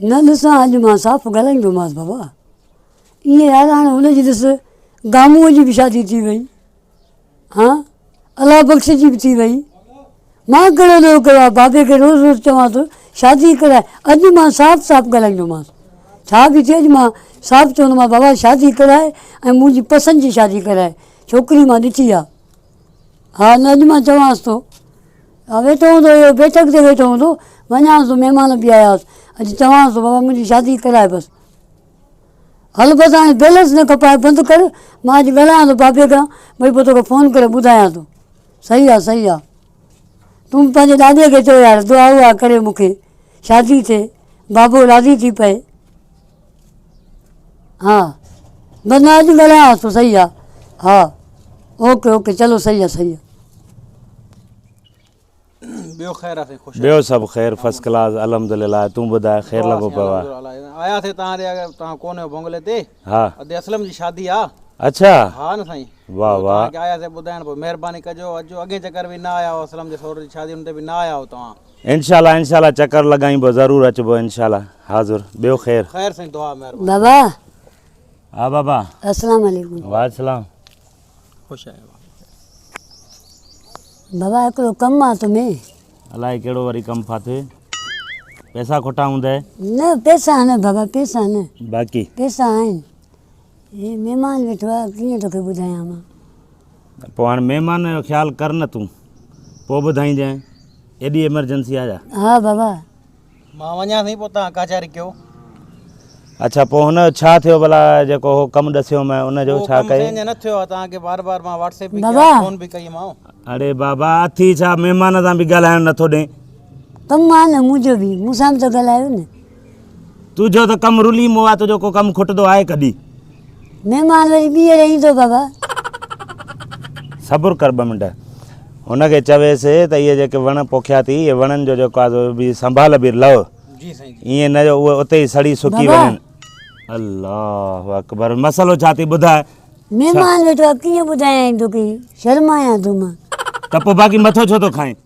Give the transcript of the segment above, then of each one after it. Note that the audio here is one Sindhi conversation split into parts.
نه نه سان اڄ مان صاف ڳالهائيندومانس بابا ائين يار هاڻي هن جي ڏس گاموء جي به شادي ٿي وئي ها الله بخش جي به ٿي وئي مان ڪهڙو ڏوهه ڪيو آهي بابي کي روز روز چوان ٿو شادي ڪرائي اڄ مان صاف صاف ڳالهائيندومانس ڇا به ٿئي اڄ مان صاف چوندومانس بابا شادي ڪرائي ۽ منهنجي پسند جي شادي ڪرائي ڇوڪري مان ڏٺي آهي ها نه اڄ مان چوانس ٿو. ها ويٺو هوندو اهو بيٺڪ تي ويٺو هوندو وڃانس ٿو مهمان به آيا هئس اڄ چوانس ٿو بابا منهنجي شادي ڪرائي بس هل بس هاڻي بيلنس نه کپائي بند ڪر مان اڄ ڳالهايان ٿو بابي کان وئي پوء توکي فون ڪري ٻڌايان ٿو صحيح آ صحيح آ تون به پنهنجي ڏاڏي کي چئو يار دعا وعا ڪري مون کي شادي ٿئي بابو راضي ٿي پئي. ها بس مان اڄ ڳالهايان ٿو صحيح آ ها اوڪي اوڪي چلو صحيح آ صحيح آ ٻيو خير آ سائين خوش ٻيو سڀ خير فرسٽ ڪلاس الحمدلله تون ٻڌاء خير لڳو پيو آ آيا سي تان ري تان ڪون هيو بنگلي تي ها ادي اسلم جي شادي آ اڇا ها نه سائين واه واه آيا سي ٻڌائڻ پو مهرباني ڪجو اچو اڳين چڪر به نه آيا هو اسلم جي سور جي شادي هوندي به نه آيا هو توهان انشاء الله انشاء الله چڪر لڳائينبو ضرور اچبو انشاء الله حاضر ٻيو خير. خير سائين دعا مهرباني. بابا ها بابا اسلام عليڪم. وعليڪم سلام. خوش آيو بابا. بابا هڪڙو ڪم آ تو ۾. الائي ڪهڙو وري ڪم ڦاٿوئي پئسا کوٽا هوندئي. نه پئسا نه بابا پئسا نه. باقي. پئسا آهن. هي مهمان ويٺو آهي ڪيئن توکي ٻڌايان مان. پوء هاڻ مهمان جو خيال ڪر نه تون پوء ٻڌائينجانء ايڏي ايمرجنسي آهي ڇا؟ ها بابا. مان وڃان ٿي پوء توهان ڪچهري ڪيو. اڇا پوء هن جو ڇا ٿيو ڀلا جيڪو هو ڪم ڏسيوم ان جو ڇا ڪيئي؟ اهو ڪم سائين اڃان نه ٿيو آهي توهان کي بار بار مان واٽس ايپ به ڪيو آهي فون به ڪيومانء. اڙي بابا اٿي ڇا مهمان سان به ڳالهائڻ نه ٿو ڏئين. ڪم آهي نه منهنجو به مون سان به ته ڳالهايو نه. تنهنجو ته ڪم رلي مئو آ تنهنجو ڪو ڪم کٽدو آهي ڪڏي. مهمان وري ٻيهر ايندو بابا. صبر ڪر ٻه منٽ. هن کي چويس ته اهي جيڪي وڻ پوکيا ٿي اهي وڻن جو جيڪو آ سو به سنڀال به لهه. جي سائين جي. ائين نه جو اهي اتي ئي سڙي سڪي وڃن. بابا. الله اڪبر مسئلو ڇا ٿي ٻڌاء. مهمان ويٺو آ ڪيئن ٻڌايانء توکي شرمايان ٿو مان. ته پوء باقي مٿو ڇو ٿو کائين.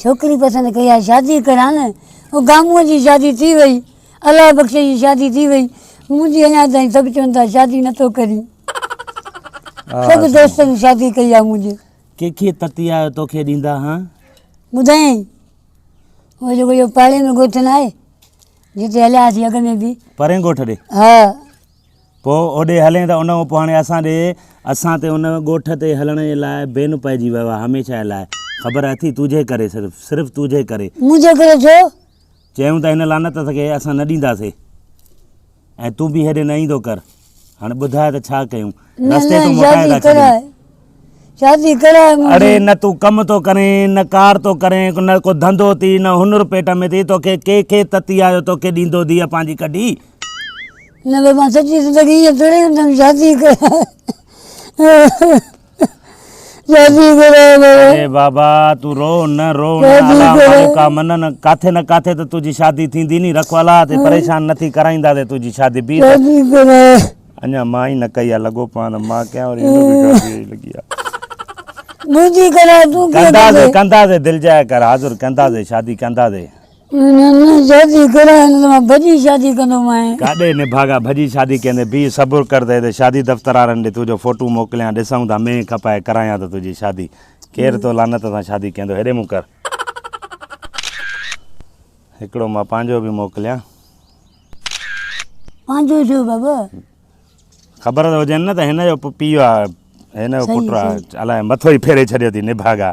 ڇوڪري پسند ڪئي آ شادي ڪريان نه او گامون جي شادي ٿي وئي الله بخش جي شادي ٿي وئي منهنجي اڃا تائين سڀ چون ٿا شادي نٿو ڪرين سڀ دوستن شادي ڪئي آ منهنجي ڪي کي تتي آيو توکي ڏيندا ها ٻڌائين هو جيڪو جو پاڙي ۾ ڳوٺ نه آهي جتي هلياسي اڳ ۾ به پرين ڳوٺ ڏي ها پوء اوڏي هلين ته انهو پوهاڻي اسان ڏي اسان تي ان ڳوٺ تي هلڻ جي لاء بينو پئجي ويو آهي هميشه جي لاء. خبر اٿئي تنهنجي ڪري صرف. صرف تنهنجي ڪري. منهنجي ڪري ڇو؟ چيائون ته هن لعنت کي اسان نه ڏينداسين ۽ تون به هيڏي نه ايندو ڪر. هاڻي ٻڌاء ته ڇا ڪيون؟ رستي تون موٽائي ٿا ڇڏين. شادي ڪرائي منهنجي. اڙي نه تون ڪم ٿو ڪرين، نه ڪار ٿو ڪرين، نه ڪو ڌنڌو اٿئي، نه هنر پيٽ ۾ اٿئي، توکي ڪي کي تتي آيو توکي ڏيندو ڌيء پنهنجي ڪڍي؟ نه ڀاء مان سڄي زندگي ايئن ٿوري هوندم شادي ڪريان شادي ڪريان اري بابا تون رو نه رو نه شادي الله ڪريان. مالڪ آ منن ڪاٿي نه ڪاٿي ته تنهنجي شادي ٿيندي ني رکوالا تي پريشان نه ٿي ڪرائينداسي تنهنجي شادي بي ته شادي ڪريان اڃا مان ئي نه ڪئي آ لڳو پيو آ ته مان ڪيان وري هن به شادي ئي لڳي آ منهنجي ڪريان تون ڪيئن ڪنداسي ڪندي ڪنداسي دل جاء ڪر حاضر ڪنداسي شادي ڪنداسي نه شادي ڪرائي نه ته مان ڀڄي شادي ڪندومانء. ڪاڏي نڀاڳا ڀڄي شادي ڪندين بيھ صبر ڪر ته هتي شادي دفتر وارن ڏي تنهنجو فوٽو موڪليان ڏسون ٿا مينهن کپائي ڪرايان ته تنهنجي شادي ڪير تو لعنت سان شادي ڪندو هيڏي مون ڪر هڪڙو مان پنهنجو به موڪليان. پنهنجو ڇو بابا. خبر ته هجين نه ته هن جو پيء آ هن جو پٽ آ الاء مٿو ئي ڦيري ڇڏيو ٿي نڀاڳا.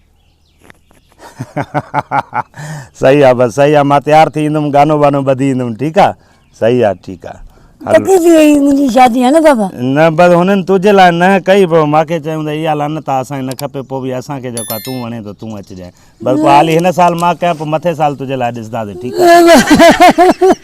صحيح آ بس صحيح آ مان تيار ٿي ايندم گانو وانو ٻڌي ايندم ٺيڪ آ صحيح آ ٺيڪ آ پڪي ٿي وئي منهنجي شادي ها نه بابا نه بس هنن تنهنجي لاء نه ڪئي پو ماکي چيون ته اها لعنت آ اسان کي نه کپي پو به اسان کي جيڪو آ تون وڻين ٿو تون اچجانء بس پو هالي هن سال مان ڪيان پو مٿي سال تنهنجي لاء ڏسنداسين ٺيڪ آ